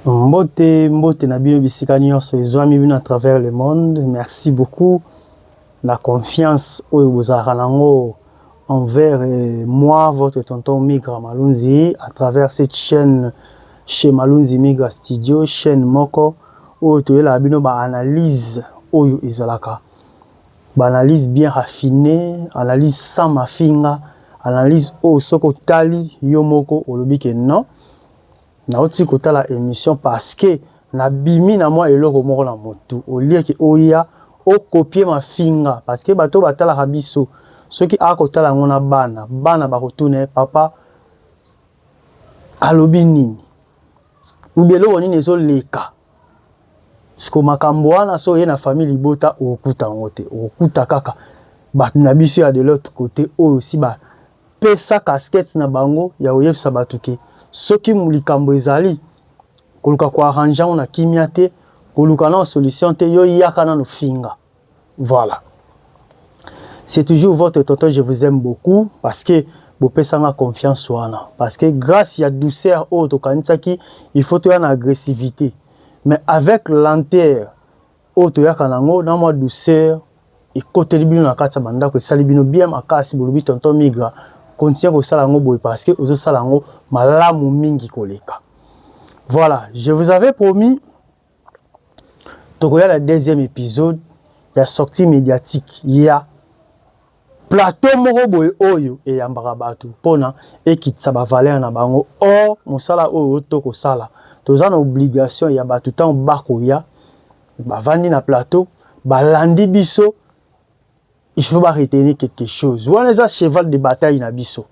mbote mbote na bino bisika nyonso ezwami bino à travers le monde merci beaucoup la confiance oyo bozalaka nango envers euh, moi votre tonton migra malunzi à travers cette chaîne chez malunzi migra studio chaîne moko Oyo toyelaka bino ba analyse oyo ezalaka ba analyse bien raffine, analyse sans mafinga, analyse oyo soki otali yo moko olobi ke non nauti kotala emission parce que na bimi na mwa eloko moko na mutu au lieu ke oya o copier mafinga parce que bato oyo batalaka biso soki akotala yango na bana, bana bakotuna ye papa. Alobi nini? Ou bien eloko nini ezo leka? Siko makambo wana so oye na famille libota okokuta yango te. Okokuta kaka bato na biso ya de l'autre cote oyo osi ba pesa casquette na bango ya koyebisa bato ke soki likambo ezali koluka ko arranger yango na kimia te, koluka nano solution te, yo yaka nano finga. Voilà c'est toujours votre tonton je vous aime beaucoup parce que bopesanga confiance wana parce que grâce ya douceur oyo tokanisaki il faut toya na agressivité mais avec lenteur oyo toyaka nango na mwa douceur ekoteli bino na kati ya bandako esali bino bien makasi bolobi tonton migra continue kosala yango boye parce que ozosala yango malamu mingi koleka voilà je vous avais promis tokoya na deuxième episode ya sortie médiatique ya plateau moko boye oyo eyambaka bato mpona ekitisa bavalere na bango or mosala oyo to kosala toza na obligation ya bato ntango bakoya bavandi na plateau balandi biso il faut ba retenir quelque chose wana eza cheval de bataille na biso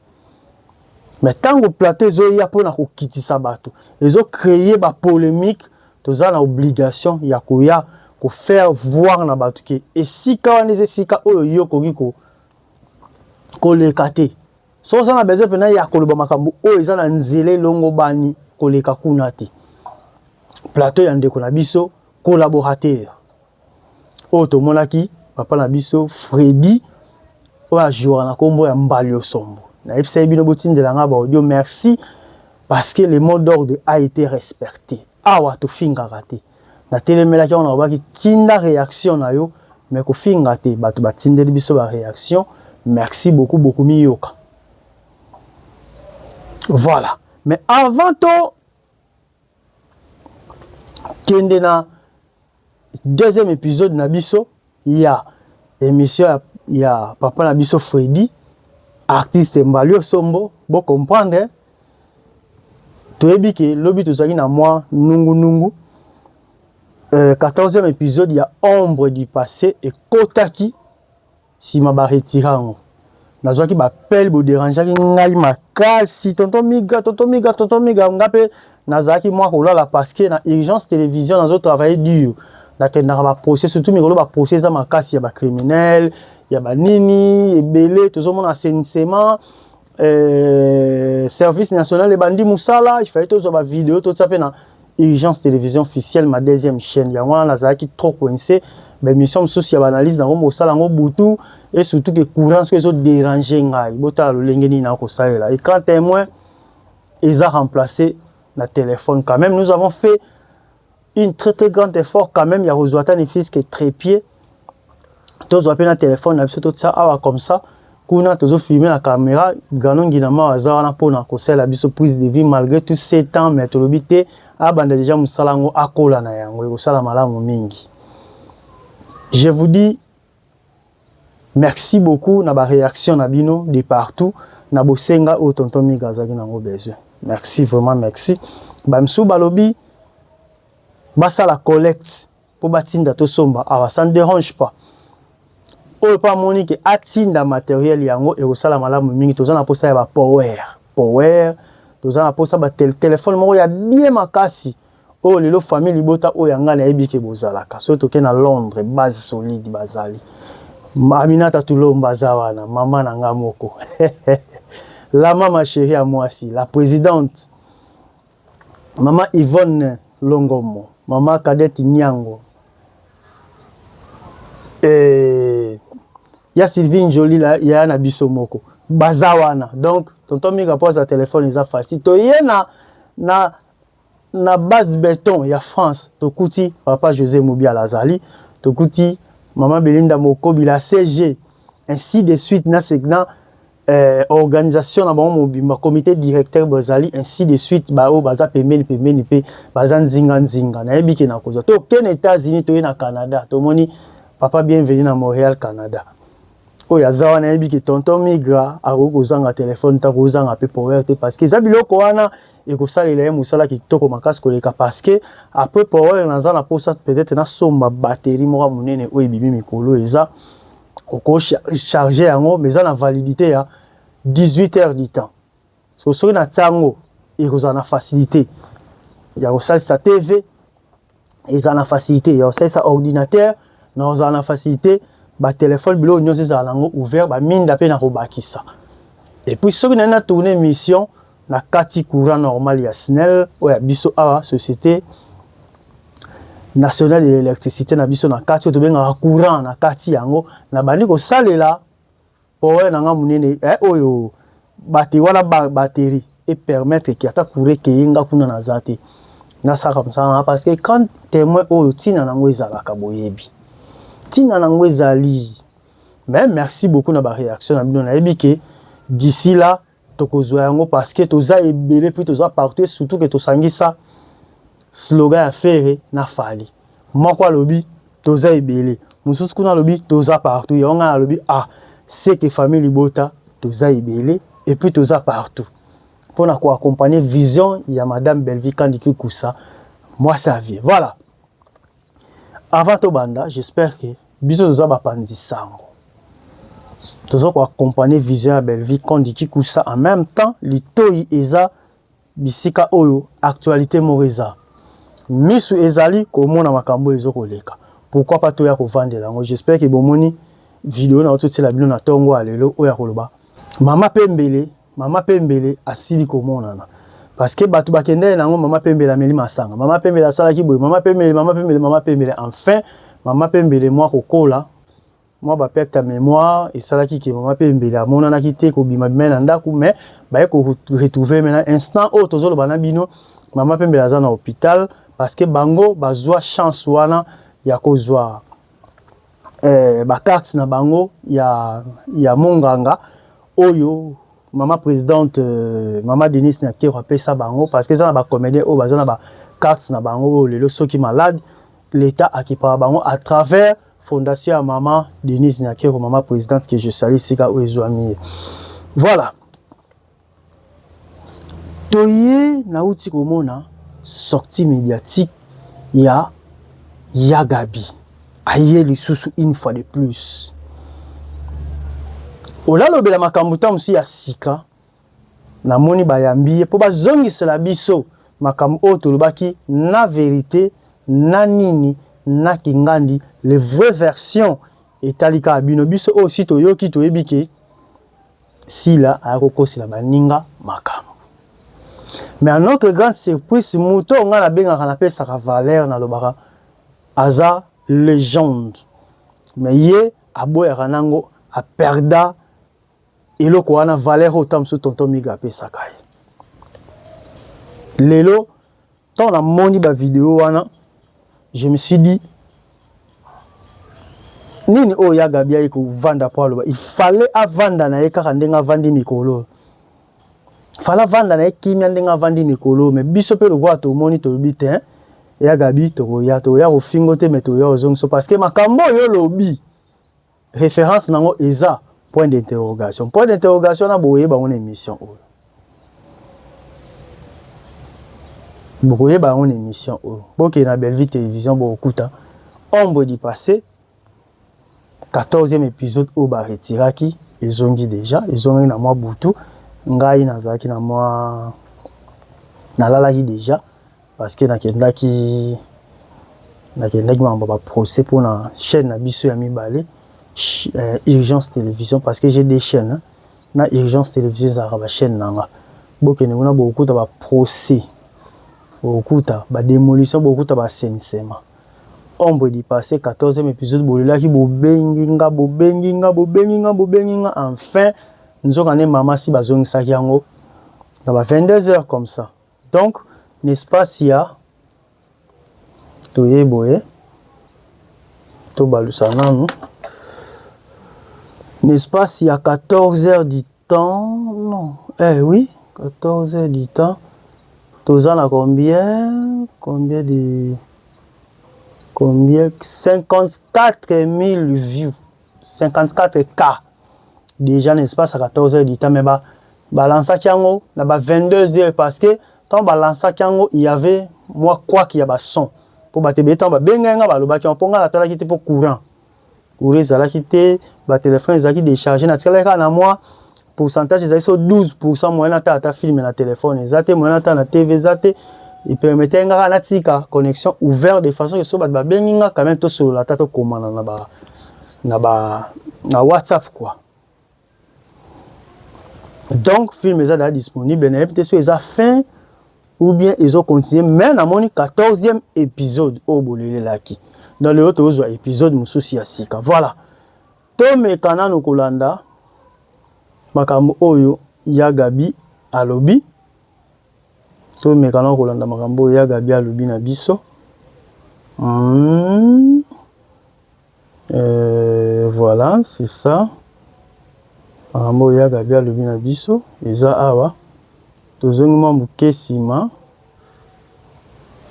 mais ntango plateau ezoya mpo na kokitisa bato ezo créer ba polemique toza na obligation ya koya ko faire voir na bato ke esika wana eza esika oyo yo okoki ko koleka te so oza na besoin mpena ya koloba makambo oyo eza na nzela elongobani koleka kuna te plateau ya ndeko na biso collaborateur oyo tomonaki papa na biso Freddy oyo a jouaka na kombo ya Mbaliosombo nayebisaki bino botindela nga ba audio merci parce que le mot d'ordre a été respecte awa tofingaka te natelemelaki yango nalobaki tinda reaction na yo mais kofinga te bato batindeli biso ba reaction merci beaucoup bokomiyoka voilà mais avant to kende na deuxième episode na biso ya emission ya, ya papa na biso Freddy artiste Mbalio Sombo bo comprendre toyebi ke lobi tozali na mwa nungu nungu euh, 14e episode ya ombre du passé ekotaki sima ba retira yango nazwaki ba appel bo derangeaki ngai makasi tonton miga tonton miga tonton miga nga pe nazalaki mwa kolala parce que na urgence télévision nazo travailler dur nakendaka ba procès surtout mikolo ba procès eza makasi ya ba criminel ya ba nini ebele tozomona assainissement Euh, service national ebandi musala il fallait tozwa ba vidéo totia pe na urgence télévision officielle ma deuxième chaîne yango wana nazalaki trop coincé baémission mosusu ya baanalyse nango mosala yango butu et surtout que courant soki ezo déranger ngai botala lolenge nini na kosalela écran témoin eza remplacé na téléphone quand même nous avons fait une très très grande effort quand même ya kozwa ata ne fils que trépied tozwa mpe na telefone na biso totya awa comme ça kuna tozofilme na kamera grano ngina mawa aza wana mpona kosalela biso prise de vie malgré tout ce temps mais tolobi te abanda deja mosala yango akola na yango ekosala malamu mingi je vous dis Merci beaucoup na ba reaction na bino de partout na bosenga oyo tonton Miga azalaki na yango besoin. Merci vraiment merci. Ba misusu balobi basala collecte mpo batinda tosomba awa ça ne dérange pas oyo mpo amoni ke atinda materiel yango ekosala malamu mingi toza na mposa ya bapower power toza na mposa batelefone moko ya bie makasi Oyo lelo famille libota oyo ya ngai nayebi ke bozalaka soki toke na Londres base solide bazali Aminata Tulomba aza wana mama na ngai moko la mama cherie ya mwasi la presidente mama Yvonne Longomo mama Cadette Nyango eh, ya Sylvie Njoli ya na biso moko baza wana donc tonton Mika mpo aza telefone eza facile toye na na Na base beton ya France tokuti papa Jose Mubiala azali, tokuti maman Belinda Mokobila CG ainsi de suite na segna eh, organisation na bango mobimba comité directeur bazali ainsi de suite baoyo baza pembeni pembeni mpe baza nzinga nzinga nayebi ke nakozwa tokende États-Unis toye na Canada tomoni papa bienvenue na Montréal Canada oyo aza wana ayebi ke tonton migra akoki kozanga telefone te akozanga mpe power te parce que eza biloko wana ekosalela ye mosala kitoko makasi koleka parce que après parole naza na posa peut-être nasomba batterie moko monene oyo ebimi mikolo eza oko charge yango mais eza na validité ya 18 heures du temps so soki na tiango ekozala na facilité ya kosalisa tv ezala na facilité ya kosalisa ordinateur na kozala na facilité batelefone biloko nyonso ezala na yango ouvert baminda mpe na kobakisa epuis soki nai na tourne mission na kati courant normal ya snel oyo ya biso awa société nationale de l'électricité na biso na kati oyo tobengaka courant na kati yango nabandi kosalela Power na nga munene eh oyo batterie wana ba batterie et permettre que ata courant ke nga kuna na zate na saka msanga parce que quand témoin oyo tina nango ezalaka boyebi tina nango ezali mais merci beaucoup na ba réaction na bino na yebi ke d'ici là tokozwa yango parce que toza ebele puis toza partout et surtout que tosangisa slogan ya Ferre na Fally moko alobi toza ebele mosusu kuna alobi toza partout yango ngai alobi ah c'est que famille libota toza ebele et puis toza partout mpo na koaccompagne vision ya madame Bellevue Kandi Kikusa mwasi ya vie voilà Avant tobanda, j'espère que biso toza bapanzi sango toza ko accompagner vision ya Bellevue Kondi Kikusa en même temps litoyi eza bisika oyo actualité moko eza misu ezali komona makambo ezo koleka pourquoi pas toya kovandela yango j'espère que bomoni video na ototiela bino na tongo ya lelo oyo ya koloba mama pembele Mama pembele asili komonana parce que batu bakendele na yango mama pembele ameli masanga mama pembele asalaki boye mama pembele mama pembele mama pembele enfin mama pembele mwa kokola mwa ba perte ya mémoire esalaki ke mama pembele amonanaki te kobima bima na ndako mais baye ko retrouver maintenant instant oyo tozoloba na bino mama pembele aza na hôpital parce que bango bazwa chance wana ya kozwa eh, ba cartes na bango ya ya monganga oyo mama presidente euh, mama Denise Nyakero apesa bango parce que eza na ba comédien oyo baza na ba cartes na bango oyo lelo soki malade l'État akipaka bango à travers fondation ya mama Denise Nyakero, mama presidente que je salue sika oyo ezwami ye. Voilà. Toye nawuti komona sortie mediatique ya ya Gaby aye lisusu une fois de plus olalobela makambu ta mosusu ya sika namoni bayambi ye po bazongisela biso makambu oyo tolobaki na verite na nini na kingandi le vrai version etali kaka bino biso oyo si toyoki toyebi ke Sila aya ko kosela baninga makambo mais à notre grande surprise moto oyo nga na bengaka na pesaka valeur na lobaka aza legende mais ye aboyaka nango a perda eloko wana valeur oyo tango mosusu tonton Migue apesaka ye lelo Ntango namoni ba video wana, je me suis dit nini oyo ya Gabi aye kovanda mpo aloba, il fallait avanda na ye kaka ndenge avandi mikolo oyo fala vanda na ye kimia ndenge avandi mikolo me biso mpe lokola tomoni tolobi te ya gabi tokoya tokoya kofingo te me toya ozongiso parce que makambo oyo olobi Reference nango eza point d'interrogation. Point d'interrogation na boye bango na emission oyo. bokoyeba yango na émission oyo oh. bokende na bellevue télévision bokokuta ombre du passé 14e épisode oyo baretiraki ezongi déjà ezongaki na mwa butu ngai nazalaki na mwa nalalaki déjà Parce que nakendaki nakendaki mambo ba procès pour na chaîne na biso ya mibale euh, urgence télévision parce que j'ai des chaînes hein. na urgence télévision ezalaka ba chaîne na nga bokende kuna bokokuta ba procès bokokuta ba démolition bokokuta ba assainissement ombre du passé 14e épisode bolelaki bobengi nga bobengi nga bobengi nga bobengi nga enfin nzoka nde mama si bazongisaki yango na ba 22 heures comme ça Donc na espace ya toye boye tobalusa nanu na espace ya 14 heures du temps non eh oui 14 heures du temps toza na combien combien de combien 54 000 vues 54 cas déjà na espace ya 14 heures du temps mais ba balansaki yango na ba 22 heures parce que ntango balansaki yango il y avait mwa kwaki ya bason mpo bato ebele ntango babengaki nga balobaki yango mpo nga natalaki te mpo courant courant ezalaki te batelefone ezalaki décharge natikalaki kaka na mwa pourcentage ezali so 12 pourcent moyen ata ata filme na telefone eza te moyen ata na tv eza te epermetaki nga kaka natika connexion ouvert de façon ke so bato babengi nga quand même tosolola ata tokomana na ba na ba na whatsapp quoi donc film eza daa disponible nayebi te so eza fin ou bien ezo continue mais namoni 14e épisode oyo bolelelaki dans lelo tozwa épisode mosusu ya sika voilà Tomeka nanu kolanda makambo oyo ya Gaby alobi. Tomeka nanu kolanda makambo oyo ya Gaby alobi na biso. Hum. Euh, voilà, c'est ça. Makambo oyo ya Gaby alobi na biso eza awa. Tozongi mwa moke nsima.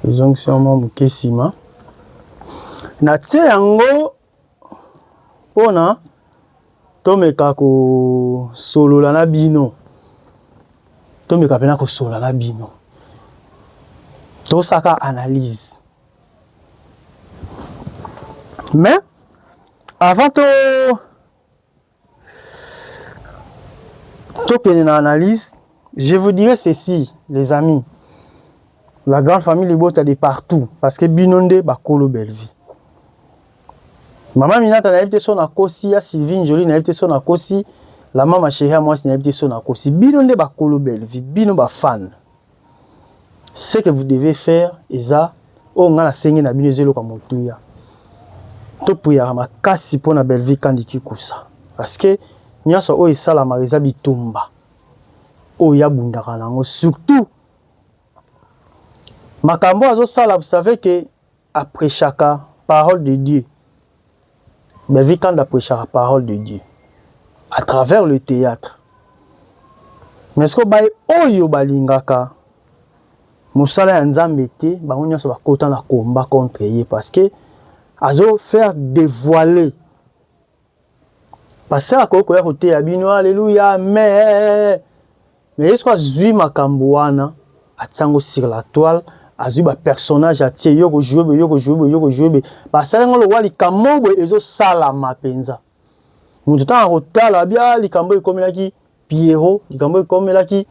Tozongisi mwa moke nsima. Natie yango mpo na tomeka kosolola na bino, tomeka mpe na kosolola na bino, tosaka analyse mais avant to tokende na analyse je vous dirai ceci les amis la grande famille libota de partout parce que bino nde bakolo bellevue mama minata nayebi te so nakosi ya sylvie njoli nayebi te so nakosi la mama sheria mwasi nayebi te so nakosi bino nde bakolo bellevue bino bafane ce que vous devez faire eza oyo nga na sengi na bino eza eloko ya motuya to puyaka makasi mpo na Bellevue Kandi Kikusa parce que nyonso oyo esalamaka eza bitumba oyo ya bundaka nango surtout makambo azosala vous savez que A prechaka parole de Dieu. Bellevue Kanda a prechaka parole de Dieu à travers le théâtre. Mais ce que baye oyo balingaka musala ya Nzambe te, bango nyonso bakota na combat contre ye parce que azo faire dévoiler Pasteur akoki koya koteya bino aleluya amen. Mais ye soki azwi makambo wana atia yango sur la toile, azwi ba personnage atie yo kojoue boye yo kojoue boye yo kojoue boye basali yango lokola likambo boye ezosalama mpenza. Moto ntango akotala abia ah, likambo ekomelaki Pierrot likambo ekomelaki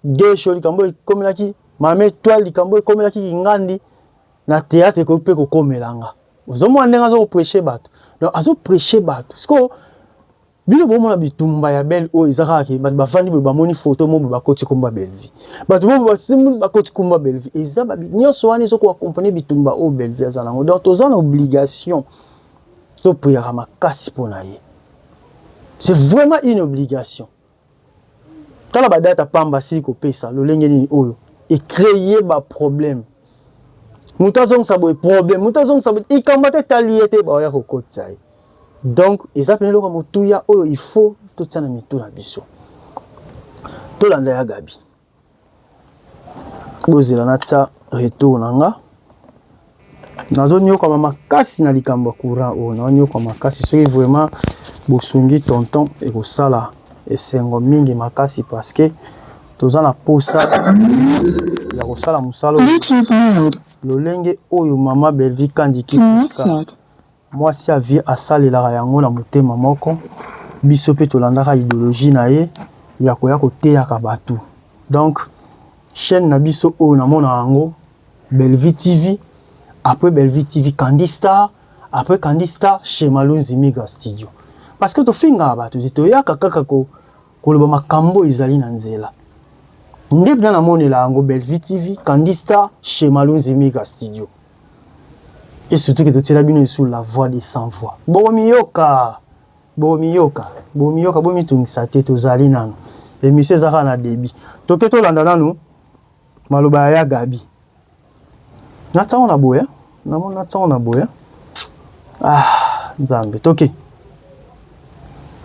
Gesho likambo ekomelaki Mame Toile likambo ekomelaki Kingandi na théâtre ekoki mpe kokomela nga ozomona ndenge azo kopreche bato donc azo preche bato sikoyo bino bomona bitumba ya belle oyo eza kaka ke bato bafandi boye bamoni foto mobo bakoti komba bellevie bato mobo basimbi bakoti komba bellevie eza babi nyonso wana ezokoka komprene bitumba oyo bellevie aza nango donc toza na obligation To priaka makasi mpo na ye. C'est vraiment une obligation. Tala ba data pamba asili kopesa lolenge nini oyo e cree ba problème. Moto azongisa boye problème, moto azongisa boye ikambo te tali ye te baoya kokotisa ye. Donc eza pene eloko motuya oyo il faut totia na mitu na biso. Tolanda ya Gabi. bozela natia retour na nga nazonyokwama makasi na likambo ya courant oyo nazonyokwa makasi soki vraiment bosungi tonton ekosala esengo mingi makasi parce que toza na posa ya kosala mosala lolenge oyo mama belvi kandiki Mwasi ya vie asalelaka yango na motema moko, biso pe tolandaka ideologie na ye ya koya koteyaka batu. Donc chaine na biso oyo namonaka yango Bellevue TV, apres Bellevue TV Kandy Star, apres Kandy Star chez Malonzi Mega Studio. Parce que tofingaka batu te, toyaka kaka ko koloba makambu oyo ezali na nzela. Nde bna namonela yango Bellevue TV, Kandy Star chez Malonzi Mega Studio. Et surtout que totiela bino sur la voix des sans voix. Bomiyoka, bomiyoka, bomiyoka, bomitungisa te, tozali nanu. Emission ezaka na débit. Toke tolanda nanu maloba ya Gabi. Natango na boya, namoni natango na boya. Ah, Nzambe, toke. Okay.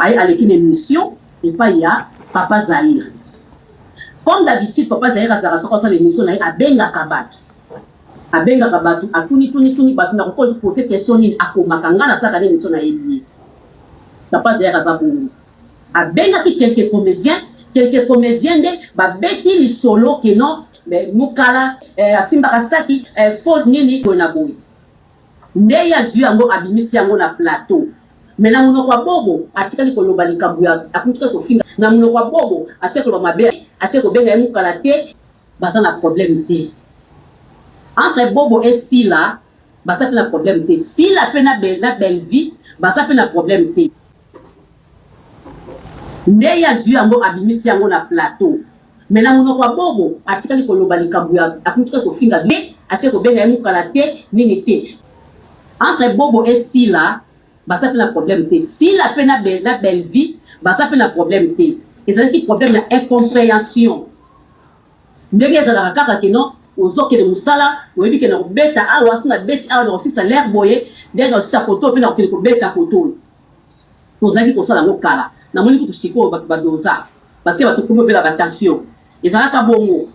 aye aleki na émission epai ya papa zaire comme d'habitude papa zaire azalaka soki asala émission na ye abengaka bato Abengaka batu atuni tuni tuni batu na ko poser question nini akomaka nga na salaka nini so na yebi ye papa zear aza bongo abengaki quelques comediens quelques comediens nde ba beti lisolo que non mais mukala eh, asimbaka saki eh, faut nini boye na boye nde ye azwi yango abimisi yango na plateau mais na munoko ya bobo atikali koloba likambo ya akutikali kofinga na munoko ya bobo atikali koloba mabe atikali kobenga ye mukala te Baza na problème te entre bobo et sila baza pe na problème te sila pe na belle na belle vie baza pe na problème te nde ye azwi yango abimisi yango na plateau me na monoko ya bobo atikali koloba likambo ya akotika kofinga te atikali kobenga ye mokala te nini te entre bobo e sila baza mpe na problème te sila mpe na, be, na bellevie baza mpe na problème te ezalaki problème ya incomprehension Ndenge ezalaka kaka que non ozo kende musala oyebi que nako beta awa soki na beti awa nako silisa l'heure boye nde nako silisa kote oyo pe nako kende ko beta kote oyo tozalaki kosala yango kala na moni kutu sikoyo batu ba doza parce que batu ekomi kobela ba tension ezalaka bongo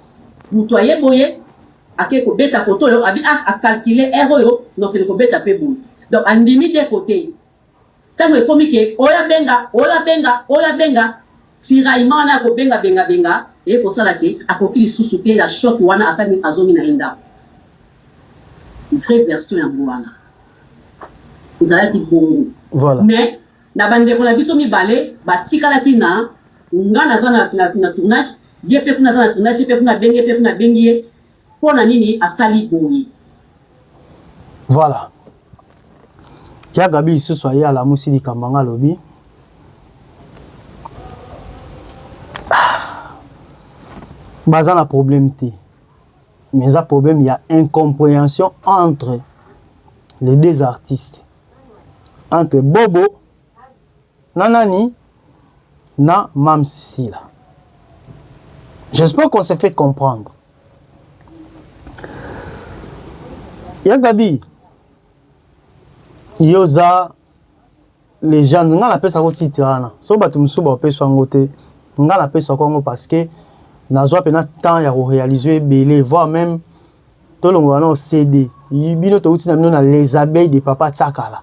mutu aye boye ake ko beta kote oyo abi ah a calculer heure oyo nako kende ko beta pe boye donc andimi de kote Tango ekomi ke oya benga oya benga oya benga tiraillement wana ya kobenga benga benga eye kosala ke akoki lisusu te ya choc wana asali azongi naye ndaku vrai version yango wana ezalaki bongo voilà. mais na ba ndeko na biso mibale batikalaki na nga naza na tournage ye pe kuna aza na tournage ye pe kuna abengi ye pe kuna abengi ye Pona nini asali boye. Voilà ya Gaby lisusu aye alamusi likambo yanga alobi baza na problème te mais eza problème ya incomprehension entre les deux artistes entre bobo na nani na Mam Sila. J'espère qu'on se fait comprendre. Ya Gabi, yo oza legende ngai napesa ko titre wana so bato mosusu bapesa yango te ngai napesa ko yango parce que nazwa mpena temps ya korealize ebele voir même Tolongola nao CD. Bino towuti na bino na Les Abeilles de Papa Tsakala,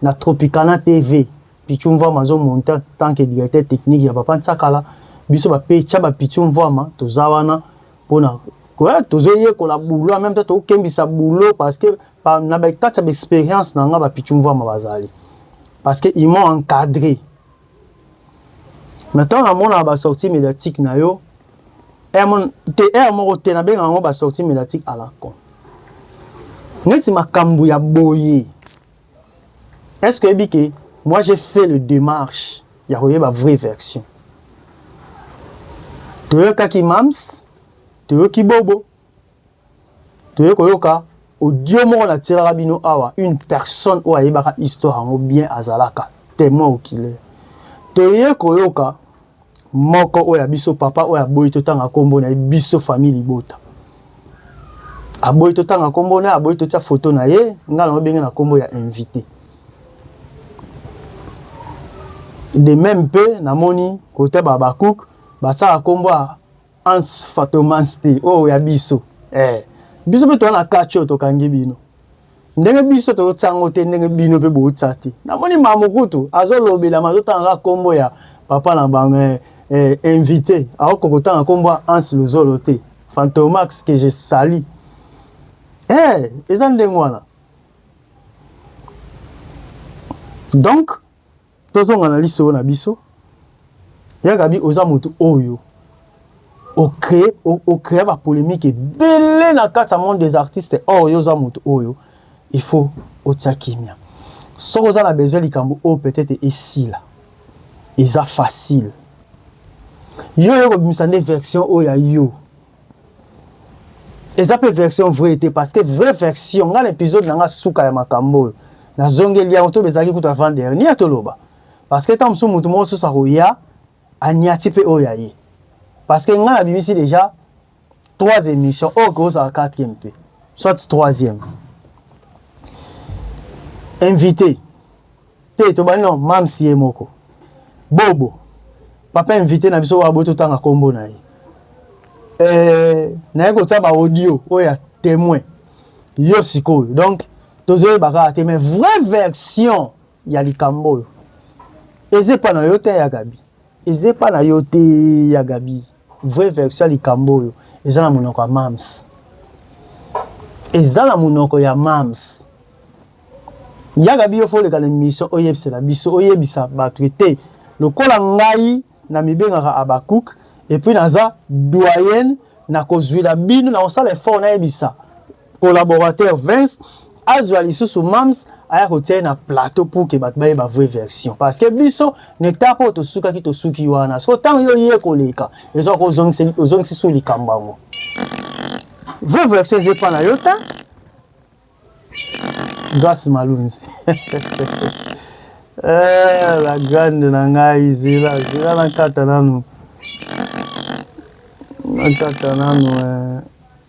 na Tropicana TV. Pitshou Mvuama azo monte en tant que directeur technique ya Papa Tsakala. Biso ba pecha ba Pitshou Mvuama toza wana pona koya tozo yekola boulot en meme temps toko kembisa boulot parce que pa, na ba kati ya ba experience na nga ba Pitshou Mvuama bazali. Parce que ils m'ont encadré. Mais ntango namonaka ba sortie mediatique na yo te heure moko te nabengaka yango ba sortie mediatique à la con neti makambo ya boye est ce que oyebi ke moi j'ai fait le démarche ya koyeba vraie version toyokaki mams toyoki bobo Toye koyoka audio moko na tielaka bino awa une personne oyo ayebaka histoire yango bien azalaka temoin oculaire. Toye koyoka moko oyo ya biso papa oyo aboyi totanga kombo na ye biso famille libota. Aboyi totanga kombo na ye, aboyi totia photo na ye, nga na obenge na kombo ya invité. De même pe namoni kote ba Habakkuk batsaka kombo ya Hans Fatomans te oyo ya biso eh. Biso mpe toza na catch oyo tokangi bino ndenge biso tozotya yango te ndenge bino mpe bootya te namoni ma mokutu azolobelama azotangaka nkombo ya papa na bango eh, eh, invité aoko kotanga nkombo ya hans luzolo te fantomax que je sali eh, eza ndenge wana donc Tozonga na lisolo na biso. Ya Gabi, oza moto oyo ocree ocrea ba polemique ebele na kati ya monde des artistes or yo oza moto oyo il faut otia kimia soki oza na besoin likambo oyo peut-être esila eza facile yo oyo kobimisa nde version oyo ya yo eza mpe version vrai te parce que vraie version ngai na épisode na ngai suka ya makambo oyo nazongeli yango to bezalaki kutu avant dernier toloba parce que ntango mosusu moto moko susu akoya anyati mpe oyo ya ye parce que ngai nabimisi déjà trois émissions oyo kozala quatrième mpe soit troisième invité Te tobandi na Mam's ye moko. Bobo. Papa invité na biso wa boto tanga kombo na ye. Euh, na ye kotia ba audio oyo ya témoin. Yo sikoyo. Donc tozo baka te mais vraie version ya likambo oyo. Ezepa na yo te ya Gabi. Ezepa na yo te ya Gabi. Vraie version ya likambo oyo eza na monoko ya Mam's, eza na monoko ya Mam's. Yaka biyo fo oleka na emission oyebisela biso, oyebisa bato ete lokola ngai na mibengaka Habacuc et puis naza doyen na kozwila bino na kosala effort nayebisa collaborateur Vince azwa lisusu Mams aya kotia ye na plateau pour que bato bayeba vraie version parce que biso na etape oyo tosukaki tosuki wana soko ntango yo oye koleka ezwa ozongisi su likambo yango vraie version eza epa na yo ta Grace Malunzi. eh, la grande na ngai zela zela na kata nanu na kata nanu eh.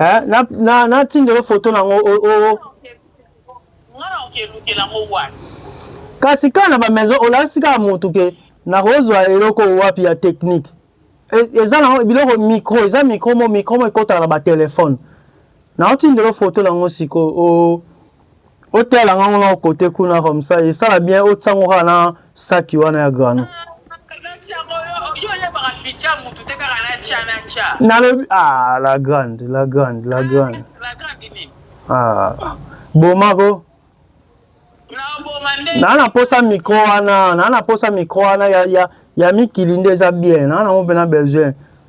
Eh, na na na tindelo photo na ngo o o ngana okeluke na ngo wapi kasi kaka na ba maison olakisi kaka mutu ke na kozwa eloko wapi ya technique e, eza na biloko micro eza micro mo micro mo ekotaka na ba telephone na otindelo photo na ngo siko o otala ngango na kote kuna comme ça esala bien otiango kaka na saki wana ya grano nalobi ah la grande la grande la grande ah bomako naa na mposa micro wana naa na mposa micro wana ya, ya, ya mikili nde eza bien naa nango mpe na besoin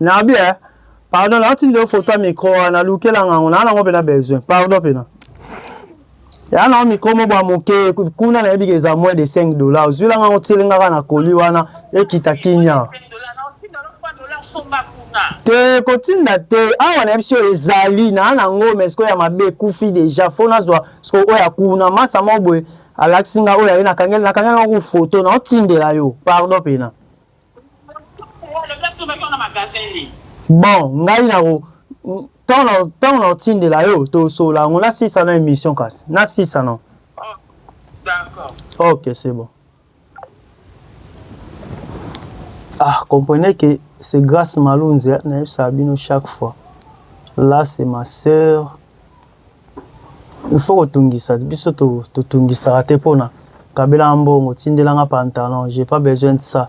Na bien. Pardon, na tindi photo ya micro wana, lukela nga ngo, na nango pena besoin. Pardon pena. Ya na micro mo bwa moke, kuna na yebika eza moins de 5 dollars. Ozwila nga ngo tiele nga ka na koli wana, ekita kinya. Te kotinda te, awa na biso ezali na nango mais ko ya mabe kufi deja, fo nazwa sko oya kuna masa mo boye alakisi nga oya ye na kangela na kangela ngo photo na otindela yo. Pardon pena. Bon ngai na ko ntango na kotindela yo tosolola yango na sisa na emission kasi na sisa na ok c'est bon ah comprenez que c'est grâce malunzi nayebisaka bino chaque fois là c'est ma sœur il faut kotungisa biso totungisaka te mpona kabela mbongo tindelanga pantalon j'ai pas besoin de ça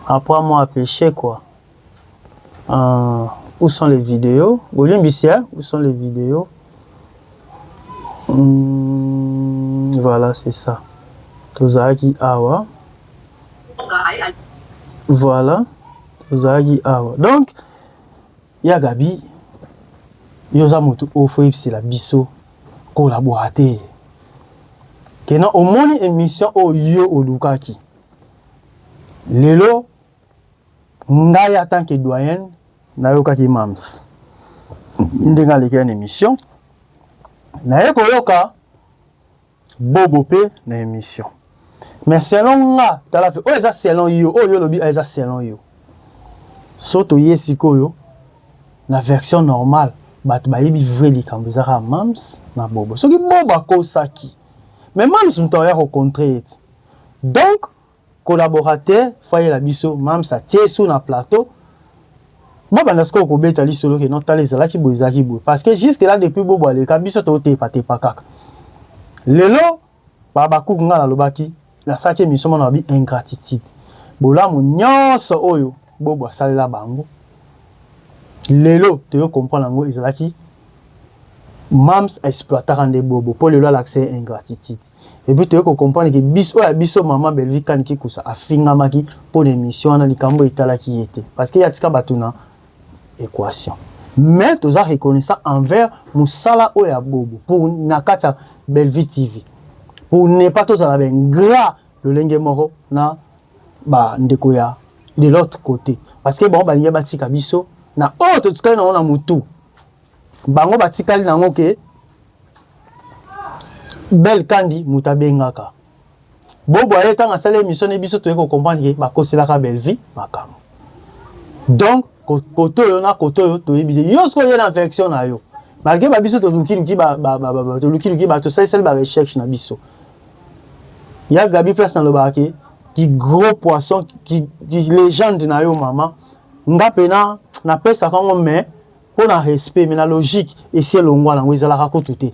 apprends moi à pêcher quoi euh, où sont les vidéos bolimbisi hein? où sont les vidéos hum, voilà c'est ça tozalaki awa voilà tozalaki awa donc Ya Gaby yo oza mutu oyo faut oyebisela biso collabora te que non omoni emission oyo yo olukaki lelo ngai en tant que doyenne nayokaki mams ndenge aleki na emission naye koyoka Bobo pe na emission. Mais selon nga tala fe oyo eza selon yo oyo olobi ah, eza selon yo. So toye sikoyo na version normale bato bayebi vrai likambo eza kaka Mams na Bobo. Soki Bobo akosaki mais Mams moto akoya ko contrer ye ti. Donc Collaborateur foyer na biso Mam's atie sous na plateau. Ba banda siko ko beta li solo ke non tala ezalaki bo ezalaki bo parce que jusque là depuis bobo aleka biso to te pate pa kaka. Lelo ba ba kuku ngana lobaki na saki emission mona bi ingratitude. Bolamu nyonso oyo bobo asalela bango. Lelo to yo comprendre yango ezalaki Mam's exploitaka nde bobo po lelo alakisa ingratitude. Et puis toyeko comprendre que bis oyo ya biso maman Bellevue Kani Kikusa afingamaki mpo na émission wana likambo etalaki ye te parce que atika bato na équation mais toza reconnaissant envers mosala oyo ya bobo pour na kati ya Bellevue TV pour ne pas tozala ba ingrat lolenge moko na ba ndeko ya de l'autre côté parce que bango balingi batika biso na oyo totikali nango na mutu Bango batikali na yango ke Belle Kandy moto abengaka Bobo aye ntango asali emission ne biso toye ko comprendre ke bakoselaka Bellevue makambo. Donc koto oyo na koto oyo toyebi te. Yo sikoyo ye na version na yo. Malgré ba biso toluki luki ba ba ba ba toluki luki ba tosali sali ba recherche na biso. Ya Gabi place na lobaka ke ki gros poisson ki, ki legende na yo mama nga pena napesaka yango mais mpo na respect mais na logique esi elongwa nango ezalaka kutu te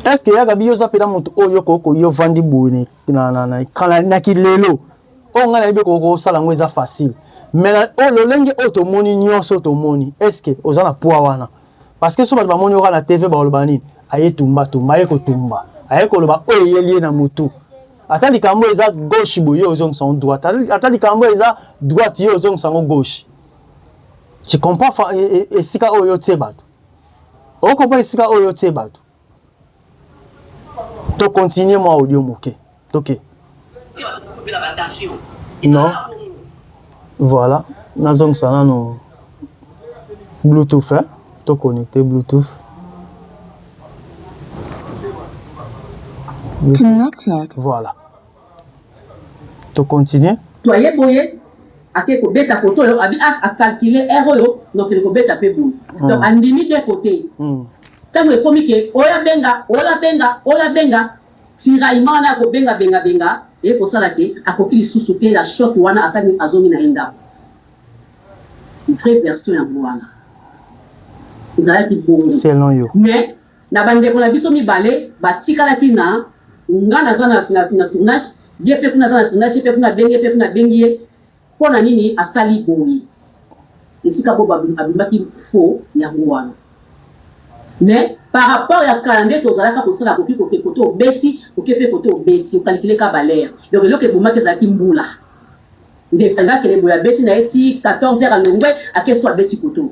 est ce que ya gabi yo oza mpena moto oyo okoko yo ovandi boye na kilelo oyo ngai nayebi okoki kosala yango eza facile mais oyo lolenge oyo tomoni nyonso tomoni est ce que oza na poids wana Parce que soki bato bamoni yo kaka na TV bakoloba nini? Aye tumba tumba, aye kotumba, aye koloba oyo eyeli ye na mutu. Ata likambo oyo eza gauche boye, yo ozongisa yango droite, ata likambo oyo eza droite, yo ozongisa yango gauche. Tu comprends esika oyo otie bato? O comprendre esika oyo otie bato? To continuer mwa audio moke. Toke. Non. Voilà. Nazongisa nano Bluetooth, hein? To connecter Bluetooth. Bluetooth. Voilà. To continuer? To aye boye, ake ko beta kote oyo, abi ah, a calculer heure oyo na kende ko beta pe boye. Donc a ndimi de kote. Tango ekomi ke oya benga, ola benga, ola benga, tiraillement wana ya ko benga benga benga eye ko sala ke a koki lisusu te ya choc wana a sali a zongi na ye ndaku. Vrai version yango wana. Ezalaki bongo. Mais. Na ba ndeko na biso mibale ba tikalaki na nga naza na na tournage ye pe kuna aza na tournage ye pe kuna abengi ye pe kuna abengi ye pona nini asali boye esika bobo abimaki faux yango wana mais par rapport ya kala nde tozalaka kosala koki koke kote obeti oke pe kote obeti okalikile ka balere donc eloko ebomaki ezalaki mbula nde esangaki kele boye abeti na ye ti 14 heures alongwe akesu abeti koto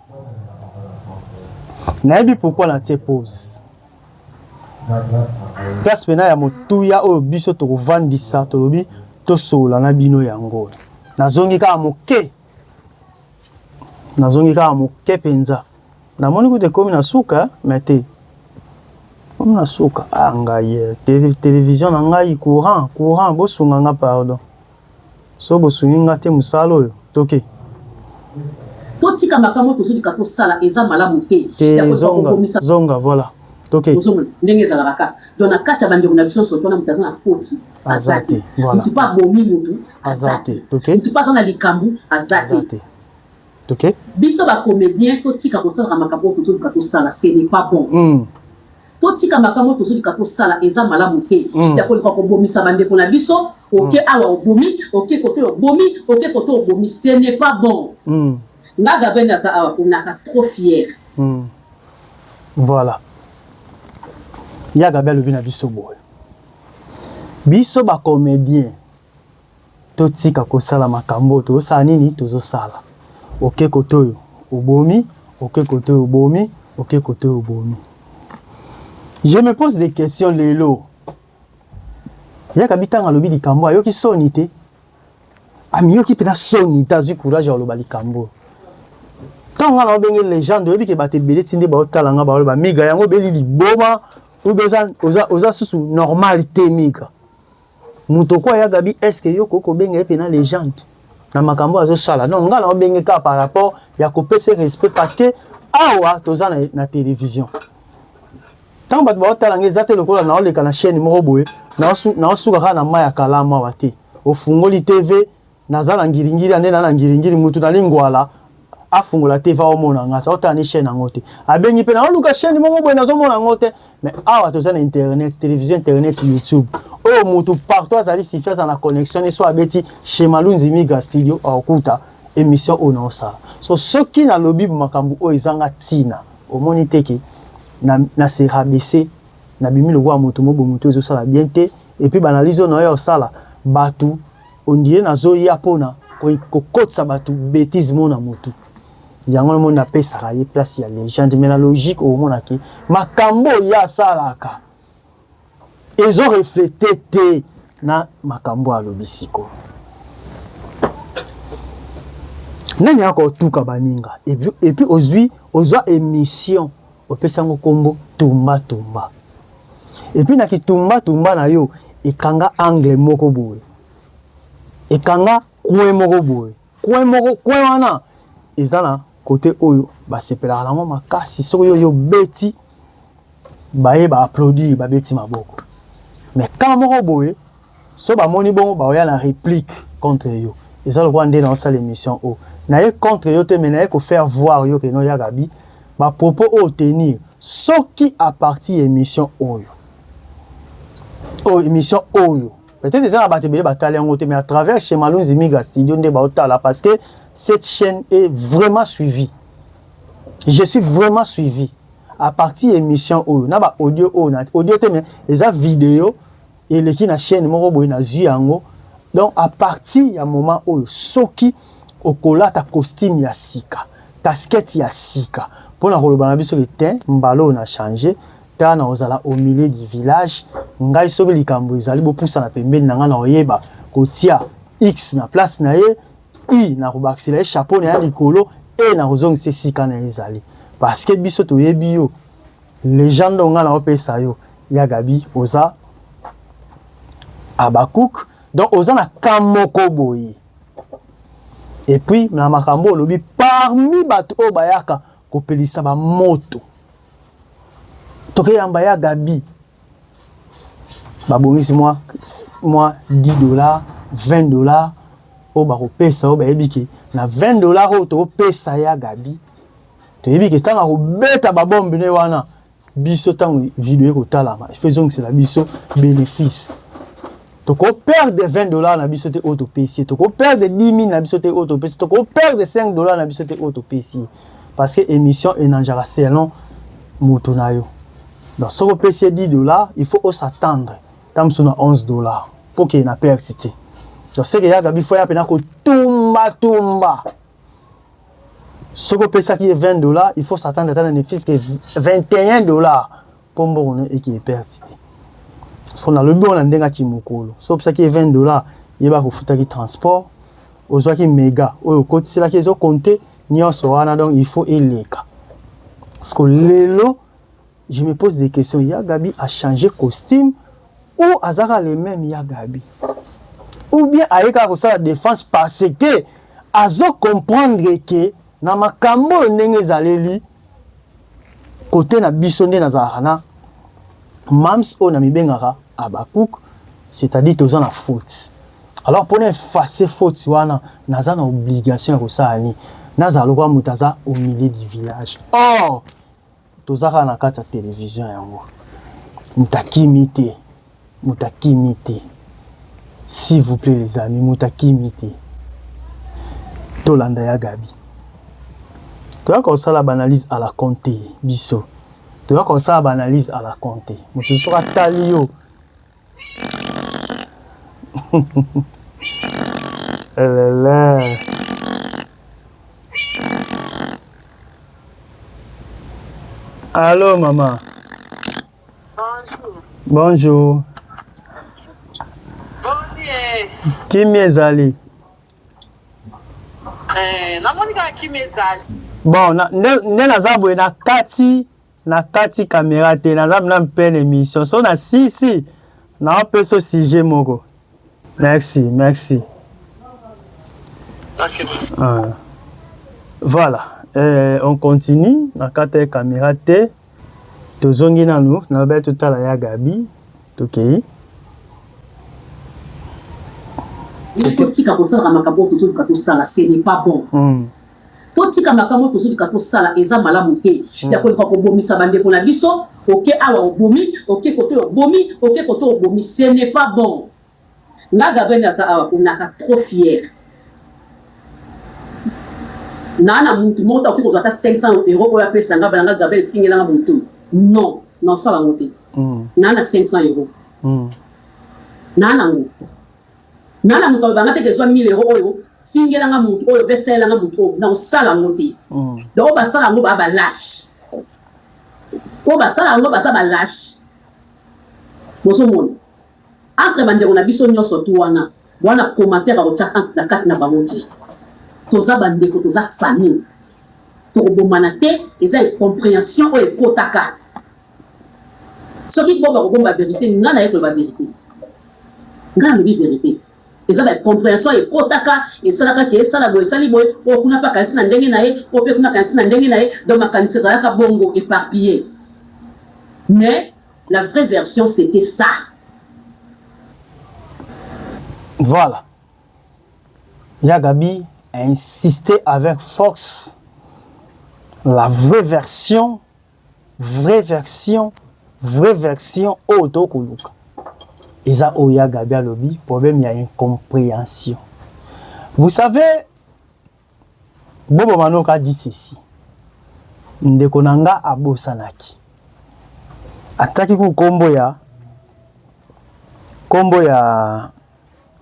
nayebi pourquoi na tie pose place pena ya motuya oyo biso tokovandisa tolobi tosolola na bino yango nazongi kaka moke nazongi kaka moke mpenza namoni kutu ekomi na suka me te ekomi na suka a ah, ngai eh, televizio na ngai courant courant bosunga nga pardon Soki bosungi nga te musala oyo toke. Totika makambo oyo tozolika tosala eza malamu te ya koluka kobomisa. Te zonga voila toke. Bozonga ndenge ezalaka kaka donc na kati ya bandeko na biso nionso soki wana mutu aza na foti aza te mutu pe abomi mutu aza te mutu pe aza na likambu aza te toke. Biso ba comediens totika kosalaka makambo oyo tozoluka tosala ce n'est pas bon. Totika makambo oyo tozolika kosala eza malamu te ya koluka kobomisa bandeko na biso oke mm. awa obomi oke kote obomi oke kote obomi ce n'est pas bon mm. nga gabriel naza awa ponaka trop fier mm. voilà ya gabriel alobi na biso boye biso bacomédien Totika kosala makambo oyo tozosala nini? Tozosala oke kote oyo obomi, oke kote oyo obomi, oke kote oyo obomi. Je me pose des questions lelo. Yaka bitanga alobi likambo ayoki soni te. Amiyoki mpenza soni te azwi courage ya koloba likambo oyo. Ntango ngai naobenge legende oyebi ke bato ebele ti nde baotala ngai baoloba miga yango obeli liboma oza, oza, oza susu normal te miga Moto ko ya Gabi est-ce que yo ko ko benga ye pe na legende na makambo azo sala? Non, nga na obenge ka par rapport ya ko pese respect parce que awa toza na, na television. Tango bato ba otala nga eza te lokola na oleka na chaîne moko boye, na osuka kaka na mai ya kalamu awa te. Ofungoli TV, Naza na ngiringiri ande na na ngiringiri mutu na lingwala afungola te va omona nga to tani chaîne yango te abengi pe na oluka chaîne moko boye nazo mona ngo te mais awa toza na internet télévision internet youtube oyo mutu partout azali sifi aza na connexion ne so abeti chez Malunzi Miga studio aokuta émission oyo na osala so soki na lobi makambo oyo ezanga tina omoni te ke na, na se rabaisser na bimi lokola mutu mobo mutu ezo sala bien te et puis banalizo na yo ya osala batu On dirait nazo ya pona kokotisa bato betise moko na motu yango na moni napesaka ye place ya legende mais na logique okomona ke makambo oyo ye asalaka ezo reflete te na makambo oyo alobi siko nani akotuka baninga epuis ozwi ozwa emission Opesi yango kombo tumba tumba. Et puis na ki tumba tumba na yo ekanga angle moko boye. Ekanga coin moko boye. Coin moko coin wana eza na kote oyo basepelaka nango makasi soki yo yo beti baye ba applaudir babeti maboko mais ka moko boye Soki ba moni bongo ba oya na replique contre yo. Eza lokola nde na osala emission oyo. Na ye contre yo te mais na ye ko faire voir yo que non ya Gaby ba propos oyo tenir soki a partir ya emission oyo. Oyo emission oyo. Peut-être eza na bato ebele ba tali yango te mais à travers chez Malonzi Miga Studio nde ba otala parce que cette chaîne est vraiment suivie. Je suis vraiment suivi à partir ya emission oyo na ba audio oyo na audio te mais eza video eleki na chaîne moko boye nazwi yango donc à partir ya moment oyo soki okolata costume ya sika casquette ya sika mpo na koloba na biso ete mbala oyo na change ta na kozala au milieu du village ngai soki likambo ezali bopusana pembeni na ngai na koyeba kotia x na place na ye i na kobakisela ye chapeau na ya likolo e na kozongisa esika na ye ezali parce que biso toyebi yo Legende oyo nga na opesa yo ya Gabi oza Habacuc donc oza na ka moko boye et puis na makambo olobi parmi bato oyo bayaka kopelisa ba moto tokeyamba ya Gabi babongisi mwa mwa 10 dollars 20 dollars oyo bakopesa oyo bayebi ke na 20 dollars oyo tokopesa ya Gabi toyebi ke ntango akobeta babombe ne wana biso ntango video ekotalama ifo ezongisela biso benefice tokoperde 20 dollars na biso te oyo topesi ye tokoperde 10 000 na biso te oyo topesi tokoperde 5 dollars na biso te oyo topesi ye parce que émission enanjaka selon moto na yo donc soki opesi ye 10 dollars il faut osattendre ntango mosusu na 11 dollars mpo keye na perte te donc seke yaka bifo ya mpena kotumbatumba soki opesaki ye 20 dollars il faut s'attendre ata na ne fils que 21 dollars mpo mbongo no eki eperte te so nalobi oyo na ndenge ati mokolo soki opesaki ye 20 dollars yeba kofutaki transport ozwaki mega oyo okotiselaki ezokonte nyonso wana donc il faut eleka siko lelo Je me pose des questions. Ya Gabi a changé costume ou azaka le même ya Gabi? Ou bien ayeka kosala défense parce que azo comprendre que na makambo oyo ndenge ezaleli kote na biso nde nazalaka na mams oyo na mibengaka Habakkuk, c'est-à-dire toza na faute. Alors pour effacer faute wana naza na obligation ya kosala nini? Nazala lokola moto aza au milieu du village. Or Toza kaka na kati ya television yango moto akimi te moto akimi te s'il vous plaît les amis moto akimi te tolanda ya gabi toyaka kosala baanalyse à la compte biso toyaka kosala baanalyse à la compte mosusu soki atali yo Elele. Allô, maman. Bonjour. Bonjour. Kimia ezali. Eh, namoni kaka kimia ezali. Bon, nde naza boye na kati Na kati camera te naza na pleine emission so na sisi na peso sujet moko. Merci, merci. Okay. Ah. Voilà, euh, on continue na kati ya camera te. Tozongi nanu na belle totala ya Gabi. Tokei. Okay. totika kozalaka makambo oyo tozoluka tosala ce n'est pas bon mm. Totika makambo tozoluka tosala eza malamu te ya koluka kobomisa bandeko na biso oke awa obomi oke kote obomi oke kote obomi ce n'est pas bon nga gabene aza awa konaka trop fière naa na muntu moko takoki kozwa ata 500 euro oyo apesa nga bana nga gabene etingela nga motu non naosala yango te naa na 500 euro naa nango Nga na mokoloba nga pete zwa 1000 euros oyo fingela nga mutu oyo pe salela nga mutu oyo na osala yango te mm. donc basala yango ba balache po basala yango baza balache bozomona entre bandeko na biso nyonso tu wana wana commentaire bakotya entre na kati na bango te toza bandeko toza famille tokobomana te eza incomprehension oyo ekotaka soki bo bakobomba verite nga naye koloba verite nga alobi verite eza ba comprehension ekotaka esalaka ke esala boye esali boye oyo kuna mpe akanisi na ndenge na ye oyo mpe kuna akanisi na ndenge na ye donc makanisi ezalaka bongo eparpille mais la vraie version c'était ça voilà ya gabi a insisté avec force la vraie version vraie version vraie version oyo to koluka eza oyo ya Gabi alobi problème ya incomprehension vous savez Bobo Manoka a dit ceci ndeko na nga abosanaki ataki ku kombo ya kombo ya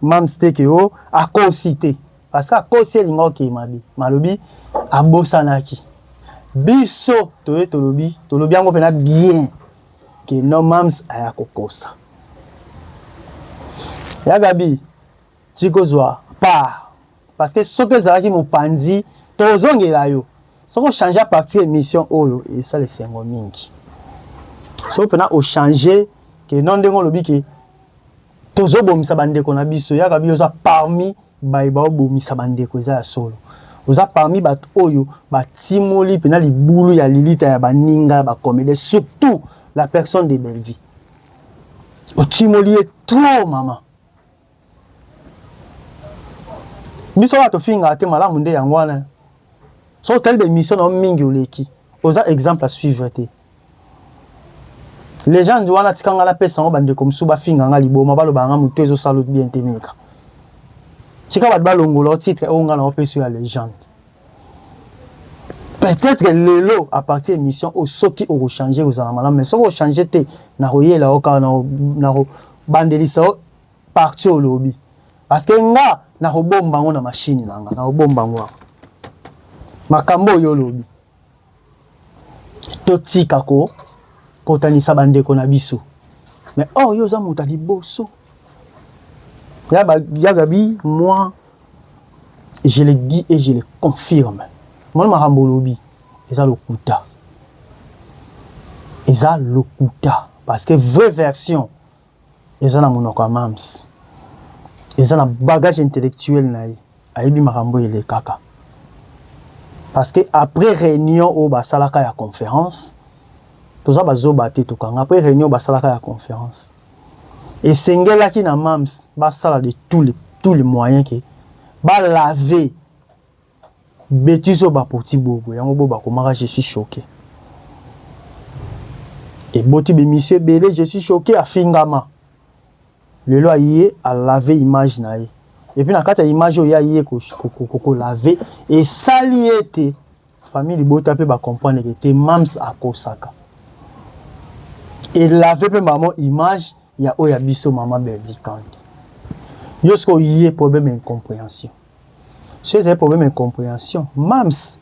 Mam's te ke o akosi te. Parce que akosi elinga oke mabe. Malobi abosanaki. Biso toye tolobi, tolobi yango pena bien ke no mam's aya kokosa. Ya Gabi, tikozwa part Parce que soki ezalaki mopanzi tozongela yo soki ochange partir émission oyo esala esengo mingi soki mpena ochange ke no ndenge olobi ke tozobomisa bandeko na biso yaka biyo oza parmi baye baobomisa bandeko eza ya solo oza parmi bato oyo batimoli mpena libulu ya lilita ya baninga ya bakomede surtout la personne de bellevie otimoli ye trop mama biso wana tofingaka te malamu nde yango wana so otali bemission na yo mingi oleki oza exemple à suivre te legende wana tika ngai napesa yango bandeko mosusu bafinga ngai liboma balobaka ngai motu ezosala bien te meka tika bato balongola titre oyo ngai naopesi yo ya legende peut-être lelo à partir ya émission oyo soki okochange kozala malamu mais soki ochange te nakoyela yo kaka nakobandelisa yo partie olobi parce que nga nakobomba yango na machine na nga nakobomba yango awa makambo oyo olobi totika ko kotanisa bandeko na biso mais or yo oza moto ya liboso ya gabi moi je le dis et je le confirme mwana makambo olobi eza lokuta eza lokuta parce que vraie version Eza na munoko ya mam's. Eza na bagage intellectuel na ye. Ayebi makambo oyo elekaka. Parce que après reunion oyo basalaka ya conference, toza ba zoba te tokanga, après reunion oyo basalaka ya conference, esengelaki na mam's basala de tous les moyens que ba laver Betise oyo ba poti boye boye yango bo ba komaka je suis choque eboti be misie ebele je suis choque afingama lelo aye a lave image na ye epuis na kati ya image oyo ya ye ko lave esali ete famille libota mpe ba comprendre ke te mams akosaka elave mpe mamo image ya oyo ya biso mama Berly Kandy yo sikoyo ye problème ya incomprehension Soki ezali problème ya comprehension, Mam's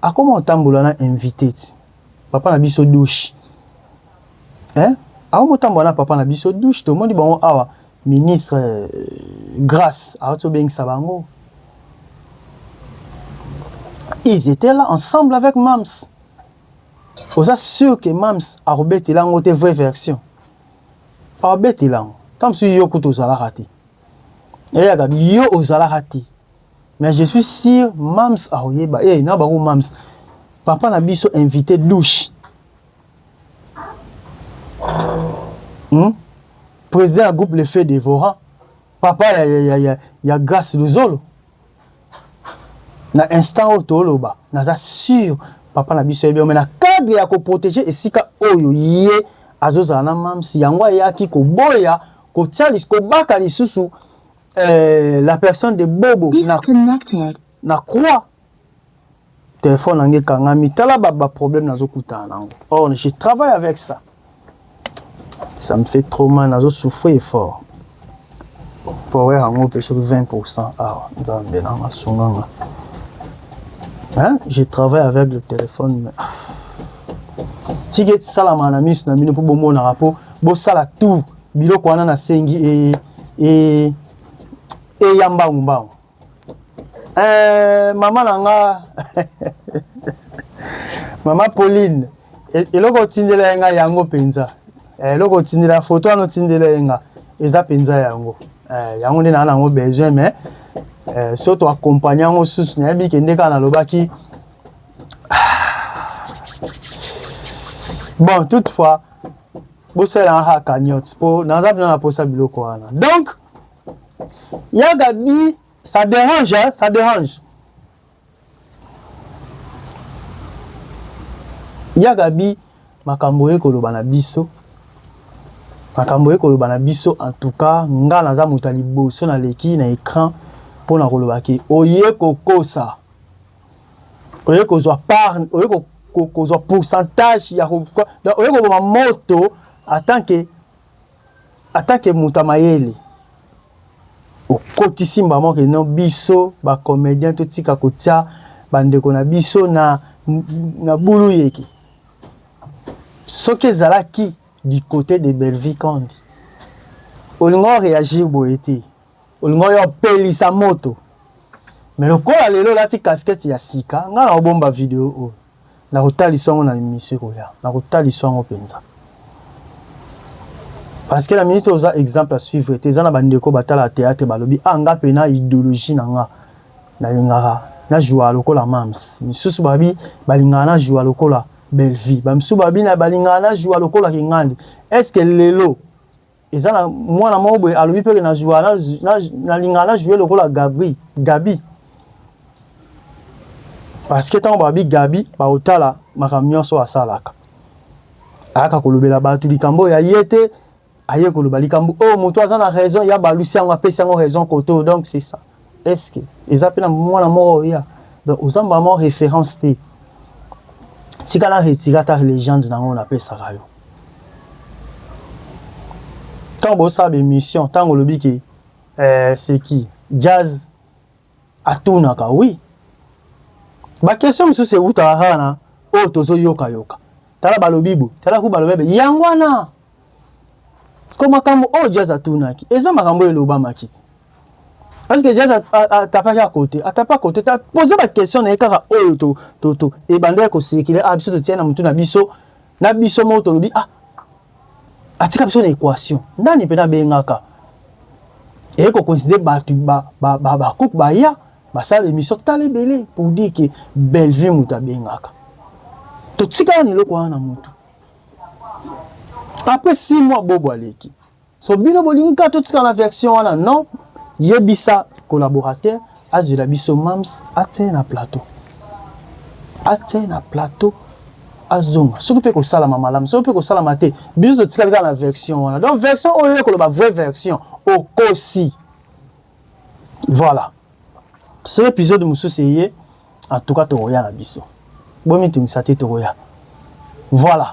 akoma kotambola na invité ti. Papa na biso douche. Hein? Akoma kotambola na papa na biso douche, tomoni bango awa ministre euh, Grace awati obengisa bango. Ils étaient là ensemble avec Mam's. Oza sûr que Mam's akobetela yango te vraie version? Akobetela yango. Ntango mosusu yo kutu ozalaka te. eyaka yo ozalaka te mais je suis sûr mams akoyeba e na bango mams papa na biso invité douche hmm? président ya groupe le fait devora papa ya, ya, ya, ya, ya grace luzolo na instant oyo toloba naza sur papa na biso yebi mais na cadre ya koprotege esika oyo ye azozala na mamsi yango ayaki koboya kotya kobaka lisusu eh, la personne de bobo na, na croix Telephone na nga ekangami, tala ba ba problème nazo kutana na yango. Or je travaille avec ça. Ça me fait trop mal, nazo souffrir fort. Power yango pe soki 20% awa, nzambe na nga sunga nga. Hein? Je travaille avec le téléphone mais tika esalama na miso na bino mpo bomonaka mpo bosala tout biloko wana nasengi e, e, eya mbangumbangu Eh, mama na nga mama Pauline e, eloko otindela ye nga yango mpenza eh, eloko otindela foto wana otindela ye nga eza mpenza yango eh, yango nde naa nango besoin mais eh, so toakompagne yango susu nayebi kende kaka nalobaki ah. bon toutefois bosalelanga kaka cagnotte mpo naza mpena na mposa biloko wana donc Ya Gabi, ça dérange, hein? Ça dérange. Ya Gabi, makambo ye koloba na biso. Makambo ye koloba na biso en tout cas, nga naza moto liboso na leki na écran mpo na koloba ke oye kokosa. Oye kozwa part, oye ko, ko, kozwa pourcentage ya ko, oye koboma moto en tant que Ata ke moto ya mayele okotisi mbamo ke non biso ba comediens totika kotia ba ndeko na biso na na bulu yeke. Soki ezalaki du cote de Bellevue Kandi olingo o reagir boye te. Olingo yo pelisa moto. Mais lokola lelo olati casquette ya sika nga na obomba video oyo. Nakotalisa yango na emission ekoya. Nakotalisa yango penza. Parce que la ministre oza exemple à suivre te eza na bandeko batala théâtre balobi ah nga pe na idéologie na nga nalingaka na joua lokola mams misusu babi balingaka na joua lokola Bellevue bamisusu babi na balingaka na joua lokola Kingandi est-ce que lelo eza na mwana moko boye alobi mpe nazwa nalingaka na joue lokola gabri gabi parce que ntango babi gabi baotala makambo nyonso asalaka ayaka kolobela bato likambo oyo aye te aye koloba likambo oyo moto aza na raison ya balusi yango apesi yango raison koto donc c'est ça Eske eza pe na mwana moko oya donc oza maman reference te tika na retira ata legende na ngo napesaka yo ntango bosala baémission ntango olobi ke eh, seki jazz atunaka wi bakestion mosusu ewutaka kaka na oyo oh, tozoyokayoka tala balobi bo tala ku balobi be yango wana ko makambo oyo oh, jazz atunaki eza makambo oyo elobamaki Est-ce que Jazz atapaki à côté Atapa à côté ta poser ba question na ye kaka oyo to to to ebandaki ko circuler ah biso totia na mutu na biso na biso moko tolobi ah atika biso na équation nani mpe nabengaka eye kocoincide bato bakupe baya basala émission tala ebele pour dire ke bellevue moto abengaka totikala na eloko wana na motu après six mois bobo aleki So bino bolingi kaka totika na version wana non, yebisa collaborateur azwela biso Mams atia ye na plateau, atia ye na plateau azonga soki mpe kosalama malamu soki mpe kosalama te biso totikali kaka na version wana donc version oyo ye koloba vraie version okosi voilà soki épisode mosusu eye en tout cas tokoya na biso bomitungisa te tokoya voilà